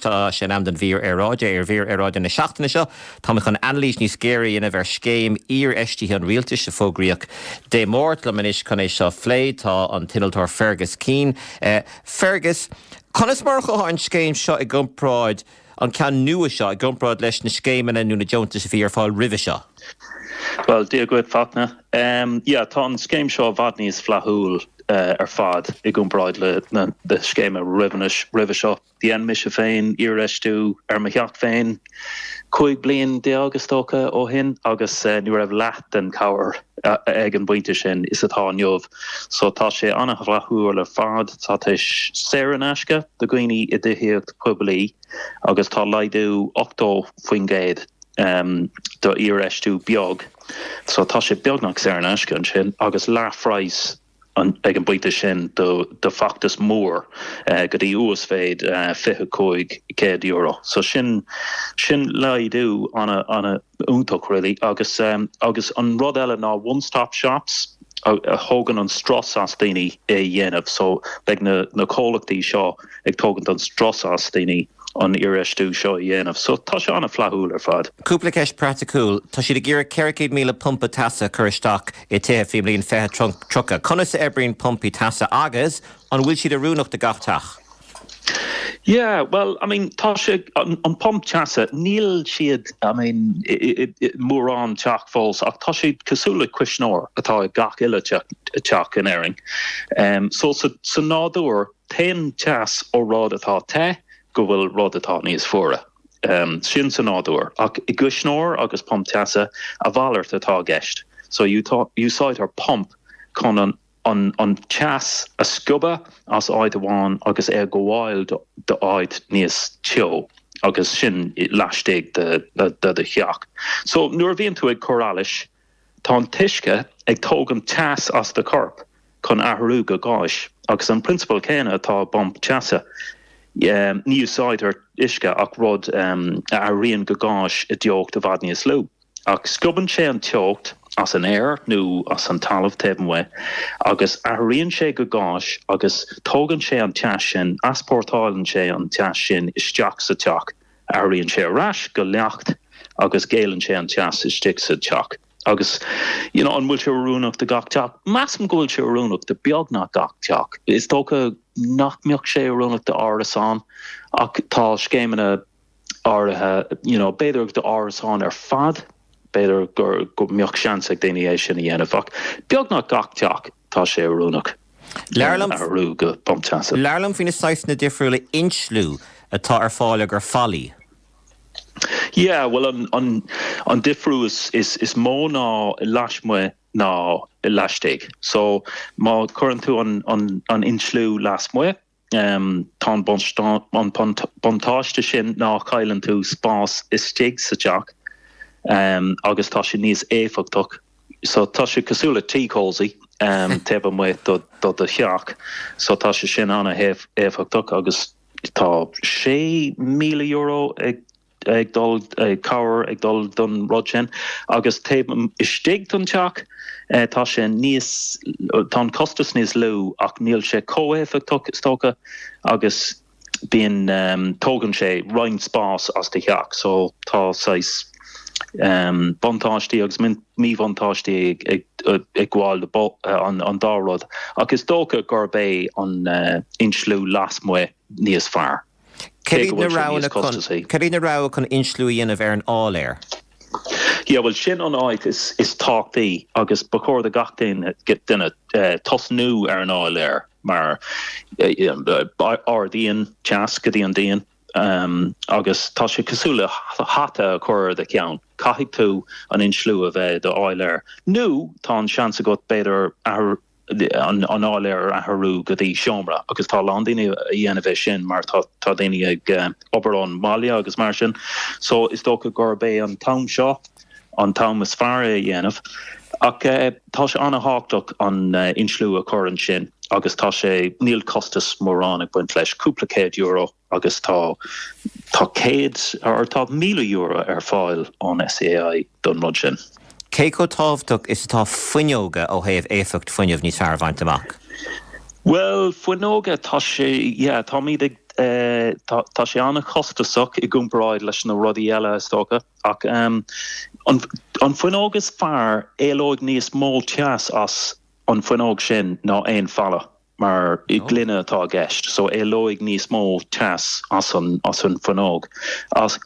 Tá sé in am don mhír aeráide. Ar mhír aeráide na seachtaine seo, táimid chun anailís níos géire a dhéanamh ar scéim iarfheistithe an rialtais a fógraíodh Dé Máirt. Liom anois chun é seo a phlé tá an t-innealtóir Fergus Keane. Fergus, conas mar a chuirfeá an scéim seo i gcomparáid, an ceann nua seo, i gcomparáid leis na scéimeanna nó na deontais a bhí ar fáil roimhe seo? Bhuel, Dia dhuit, Fachtna. Tá an scéim seo i bhfad níos flaithiúil ar fad i gcomparáid le na scéimeanna roimhe seo. Dhein mise féin iarfheistiú ar mo theach féin 15 bliain is dócha ó shin agus ní raibh leath den chabhair ag an bpointe sin is atá inniu so tá sé an-fhlaithiúil ar fad. Tá tús saor in aisce do dhaoine i dtithíocht poiblí agus tá laghdú 80% do iarfheistiú beag so tá sé beagnach saor in aisce ansin agus leathphraghas ag an bpointe sin do feachtas mór go dtí uasmhéid €2500 so sin sin laghdú ana ana iontach really agus agus an rud eile ná one stop shops a thógann an strus as daoine é dhéanamh so beidh na na comhlachtaí seo ag tógaint an strus as daoine an iarfheistiú seo a dhéanamh so tá sé ana flaithiúil ar fad. Cúpla ceist praiticiúil, tá siad ag iarraidh 400,000 pumpa teasa a chur isteach i dtithe faoin mbliain 2030. Conas a oibríonn pumpaí teasa agus an bhfuil siad oiriúnach do gach teach? Yeah, well, I mean, tá sé an pump teasa, níl siad, I mean, i mórán teach fós ach tá siad cosúil le cuisneoir atá i ngach uile teach in Éirinn. So sa nádúr téann teas ó rud atá te go bhfuil rud atá níos fuaire. sin sa nádúr, ach i gcuisneoir agus pump teasa, a mhalairt atá i gceist. So úsáidtear pump chun an teas a sciobadh as áit amháin agus é a ghabháil do áit níos teo agus sin laistigh de do theach. So nuair a bhíonn tú ag cur allais, Tá an t-uisce ag tógaint teas as do chorp chun athrú go gáis agus an prionsabal céanna atá i bpump teasa. Ní úsáidtear uisce ach rud a athraíonn go gáis i dteocht i bhfad níos lú. Ach sciobann sé an teocht as an aer nó as an talamh taobh amuigh agus athraíonn sé go gáis agus tógann sé an teas sin, easpórtáileann sé an teas sin isteach sa teach. Athraíonn sé ar ais go leacht agus géilleann sé an teas istigh sa teach. Agus you know an bhfuil sé oiriúnach do gach teach? Measaim go bhfuil sé oiriúnach do beagnach gach teach. Is dócha nach mbeadh sé oiriúnach do árasán ach tá scéimeanna áirithe you know b'fhéidir do árasáin ar fad, b'fhéidir go go mbeadh seans ag daoine é sin a dhéanamh ach beagnach gach teach. tá sé oiriúnach a athrú go pumpa teasa. Labhair liom faoi na saghsanna difriúla insliú atá ar fáil i gcomhair fallaí. Yeah, bhuel an an an difriú is is is mó ná lasmuigh ná i laistigh so má cuireann tú an an an insliú lasmuigh, Tá an buntáiste sin ná chailleann tú spás istigh sa teach agus tá sé níos éifeachtach. So tá sé cosúil le tea cosy taobh amuigh do do theach, so tá sé sin an-éifeachtach agus tá €6,000 ag ag dul ag cabhair ag dul don rud sin agus taobh istigh den teach tá sé níos tá an costas níos lú ach níl sé chomh éifeachtach is dócha agus bíonn tógann sé roinnt spás as do theach so tá saghas buntáistí agus míbhuntáistí ag gabháil le an an dá rud ach is dócha gurb é an insliú lasmuigh níos fearr. Cad iad na roghanna chun insliú a dhéanamh ar an áiléar? Yeah, bhuel, sin an áit is tábhachtaí agus ba chóir do gach duine tosnú ar an áiléar mar ardaíonn teas go dtí an díon agus tá sé cosúil le hata a chur ar do cheann. Caithfidh tú an insliú a bheith i do áiléar nó tá an seans agat b'fhéidir an áiléar a athrú go dtí seomra agus tá a lán daoine a dhéanamh é sin mar tá tá daoine ag obair ón mbaile agus mar sin so is dócha gurb é an t-am seo an t-am is fearr é a dhéanamh ach tá sé an-tábhachtach an insliú a chur ansin agus tá sé níl costas mórán ag baint leis cúpla céad euro agus tá tá céad or tá míle euro ar fáil ón SEAI don rud sin. Cé chomh tábhachtach is atá fuinneoga ó thaobh éifeacht fuinnimh níos fearr a bhaint amach? Bhuel, fuinneoga, tá sé, yeah, táimid ag, eh, tá, tá sé an-chostasach i gcomparáid leis na rudaí eile, is dócha, ach ehm, an, an fuinneog is fearr, éalóidh níos mó teas as an fuinneog sin ná aon falla. mar gloine atá i gceist so éalóidh níos mó teas as an as an fuinneog ach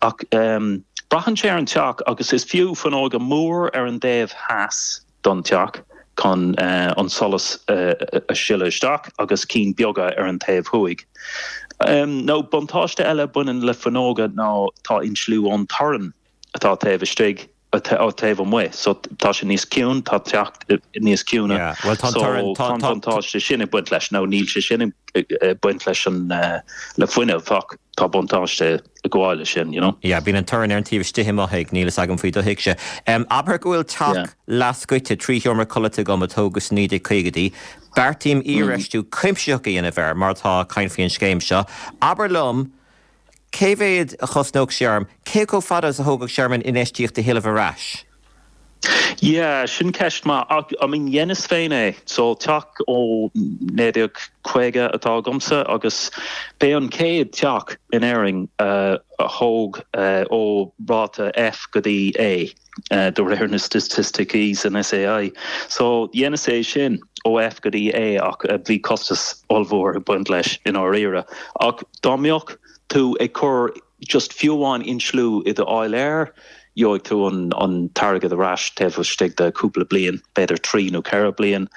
braitheann sé ar an teach agus is fiú fuinneoga mór ar an dtaobh theas don teach chun an solas a sileadh isteach agus cinn beaga ar an taobh thuaidh nó buntáiste eile baineann le fuinneoga ná tá insliú ón torann. atá taobh istigh, atá taobh amuigh so tá sé níos ciúine, tá an teach níos ciúine so tá an buntáiste sin ag baint leis nó níl sé sin ag baint leis an le fuinneamh ach tá buntáiste ag gabháil leis sin, you know. Yeah, bíonn an torann ar an taobh istigh i mo thigh, níl a fhios agam faoi do thigse. Abair go bhfuil teach leathscoite trí sheomra codlata agam a tógadh sna 1950idí, beartaím iarfheistiú cuimsitheach a dhéanamh air mar atá, caint faoin scéim seo, abair liom, cé mhéad a chosnódh sé orm? cé chomh fada is a thógfadh sé orm an infheistíocht a thuilleamh ar ais? Yeah, sin ceist mhaith. Ah, I mean, dheineas féin é. So, teach ó 1950 atá agamsa agus b'é an chéad teach in Éirinn a thóg ó ráta F go dtí A. de réir na staitisticí san SEAI. So, dheineas é sin ó F go dtí A ach bhí costas ollmhór ag baint leis i ndáiríre. Ach dá mbeadh tú ag cur just fiú amháin insliú i do áiléar, gheobhaidh tú an t-airgead ar ais taobh istigh de chúpla bliain, b'fhéidir trí nó ceithre bliain.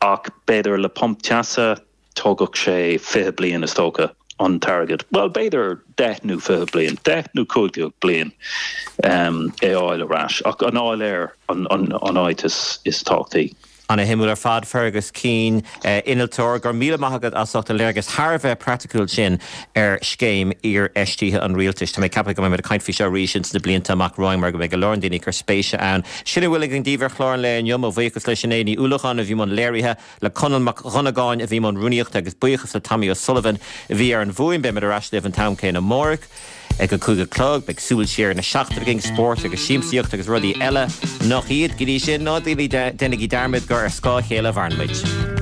Ach b'fhéidir le pumpa teasa Tógfadh sé fiche bliain, is dócha, an t-airgead, bhuel, b'fhéidir deich nó fiche bliain, deich nó cúig déag bliain, é a fháil ar ais, ach an t-áiléar an áit is tábhachtaí. Ana-shuimiúil ar fad, Fergus Keane, innealtóir, go raibh míle maith agat as ucht an léargas thar a bheith praiticiúil sin ar scéim iarfheistithe an Rialtais. Tá mé ag ceapadh go mbeidh muid ag caint faoi seo arís ins na blianta amach romhainn mar go mbeidh go leor daoine ag cur spéise ann. Sin a bhfuil againn daoibh ar Chlár an Lae inniu. Mo bhuíochas le Sinéad Ní Uallacháin a bhí i mbun léirithe. Le Conall Mac Dhonnagáin a bhí i mbun rúnaíochta agus buíochas le Tommy O'Sullivan a bhí ar an bhfuaim. Beimid ar ais libh an t-am céanna amárach ag a cúig a chlog. Beidh súil siar na seachtaine againn, spórt agus siamsaíocht agus rudaí eile nach iad. Go dtí sin, ná déanaigí dearmad gur ar scáth a chéile a mhaireann muid.